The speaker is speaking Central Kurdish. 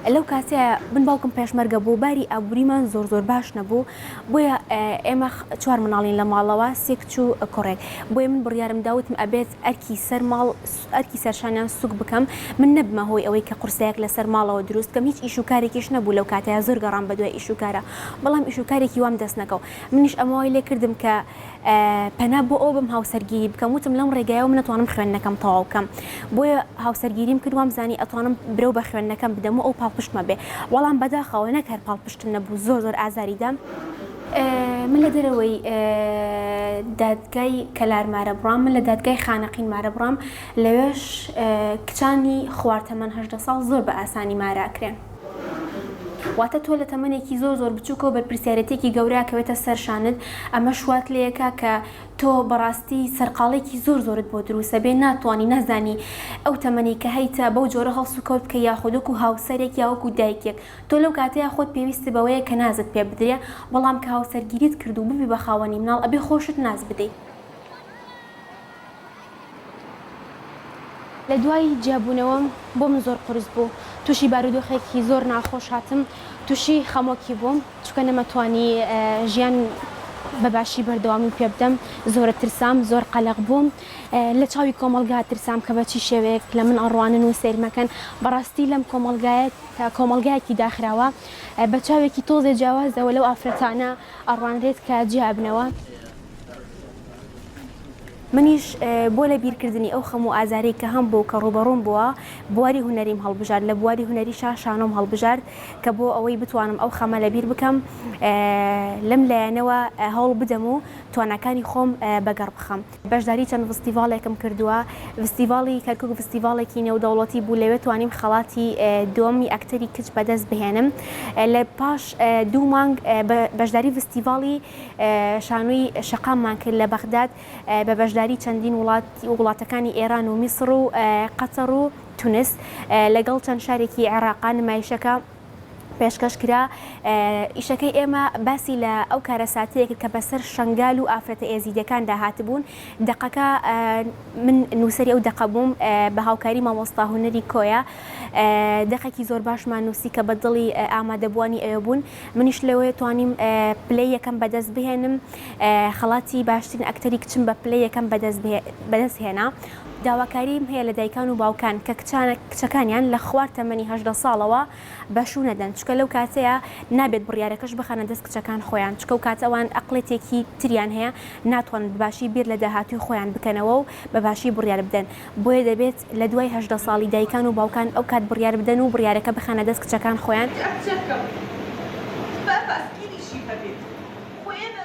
لەو کاتە من باوکم پێشمەرگە بوو باری ئابووریمان زۆر زۆر باش نەبوو بۆیە ئێمە چوار مناڵین لە ماڵەوە سێکچ و کوڕێک بۆیە من بڕیارم داوتم ئەبێت ئەرکی سەر ماڵ ئەرکی سەرشانیان سوک بکەم من نەبمە هۆی ئەوەی کە قرسەیەک لەسەر ماڵەوە دروست کەم هیچ ئیشوکارێکیش نەبوو لەو کاتەیە زۆر گەڕام بە دوای ئیشوکارە بەڵام ئیشوکارێکی وام دەست نەکەوت منیش ئەمەوای لێ کردم کە پەنا بۆ ئەوە بەم هاوسەرگیری بکەم وتم لەم ڕێگایەوە من ئەتوانم خوێندنەکەم تەواو بکەم بۆیە هاوسەرگیریم کرد وام زانی ئەتوانم برەو بە خوێندنەکەم بدەم و ئەو پاڵپشتمە بێ وەڵام بەداخەوە نەک هەر پاڵپشتم نەبوو زۆر زۆر ئازاری دام من لە دەرەوەی دادگای کەلار مارە بڕام من لە دادگای خانەقین مارە بڕام لەوێش کچانی خوار تەمەن هەژدە ساڵ زۆر بە ئاسانی مارە ئەکرێن. واتە تۆ لە تەمەنێکی زۆر زۆر بچووکەوە بەرپرسیارێتێکی گەورە کەوێتە سەر شانت ئەمەش وات لێکا کە تۆ بەڕاستی سەرقاڵێکی زۆر زۆرت بۆ دروسە بێ ناتوانانی نازانی ئەو تەمەنی کە هەیتە بەو جۆرە هەڵس و کەوت بکە یاخودک و هاوسەرێک یاوەک و دایکێک تۆ لەو کاتەیە خۆت پێویست بەوەیە کە نازت پێ بدرێ بەڵام کە هاوسەرگیریت کردو ببی بە خاوەنی مناڵ ئەبێ خۆشت ناز بدەی لە دوای جیابوونەوەم بۆ من زۆر قورس بوو، تووشی بارودۆخێکی زۆر ناخۆش هاتم، تووشی خەمۆکی بووم، چونکە نەمەتوانی ژیان بە باشی بەردەوامی پێ بدەم، زۆرت ترسام، زۆر قەلەق بووم، لە چاوی کۆمەڵگا ترسام کە بە چی شێوەیەک لە من ئەڕوانن و سەیرم ئەکەن، بەڕاستی لەم کۆمەڵگایە کە کۆمەڵگایەکی داخراوە، بە چاوێکی تۆزێ جیاوازەوە لەو ئافرەتانە ئەڕوانرێت کە جیابنەوە. منیش بۆ لە بیرکردنی ئەو خەم و ئازارەی کە هەم بوو کە ڕوبەڕوم بووە بواری هونەریم هەڵبژارد لە بواری هونەریشا شانۆم هەڵبژارد کە بۆ ئەوەی بتوانم ئەو خەمە لە بیر بکەم لەم لایەنەوە هەوڵ بدەم و تواناکانی خۆم بە گەڕ بخەم. بەشداری چەند ڤستیڤاڵێکم کردووە ڤستیڤاڵی کەرکوک ڤستیڤاڵێکی نێودەوڵەتی بوو لەوێ توانیم خەڵاتی دووەمی ئەکتەری کچ بە دەست بهێنم لە پاش دوو مانگ بەشداری ڤستیڤاڵی شانۆی شەقاممان کرد لە بەغداد بە بەشداری چەندین وڵات و وڵاتەکانی ئێران و میسڕ و قەتەڕ و تونس لەگەڵ چەند شارێکی عێڕاقا نمایشەکە پێشکەش کرا ئیشەکەی ئێمە باسی لە ئەو کارەساتەیەکە کە بەسەر شنگال و ئافرەتە ئێزیدەکاندا هاتبوون دەقەکە من نووسری ئەو دەقە بووم بە هاوکاری مامۆستا هوەری کۆیە دەقێکی زۆر باشمان نووسی کە بە دڵی ئامادەبووانی ئەوێ بوون منیش لەوێ توانیم پلەی یەکەم بەدەست بهێنم خەڵاتی باشترین ئەکتەری کچم بە پلەی یەکەم بەدەست هێنا داواکاریم هەیە لە دایکان و باوکان کە کچانە کچەکانیان لە خوار تەمەنی هەژدە ساڵەوە بە شوو نەدەن چکە لەو کاتەیە نابێت بڕیارەکەش بخەنە دەست کچەکان خۆیان چکە و کاتە ئەوان ئەقڵێتێکی تریان هەیە ناتوان بەباشی بیر لە داهاتووی خۆیان بکەنەوە و بەباشی بڕیار بدەن بۆیە دەبێت لە دوای هەژدە ساڵی دایکان و باوکان ئەو کات بڕیار بدەن و بڕیارەکە بخەنە دەست کچەکان خۆیان. کچەکەم با پاسکیلیشی هەبێت خۆ ئێمە.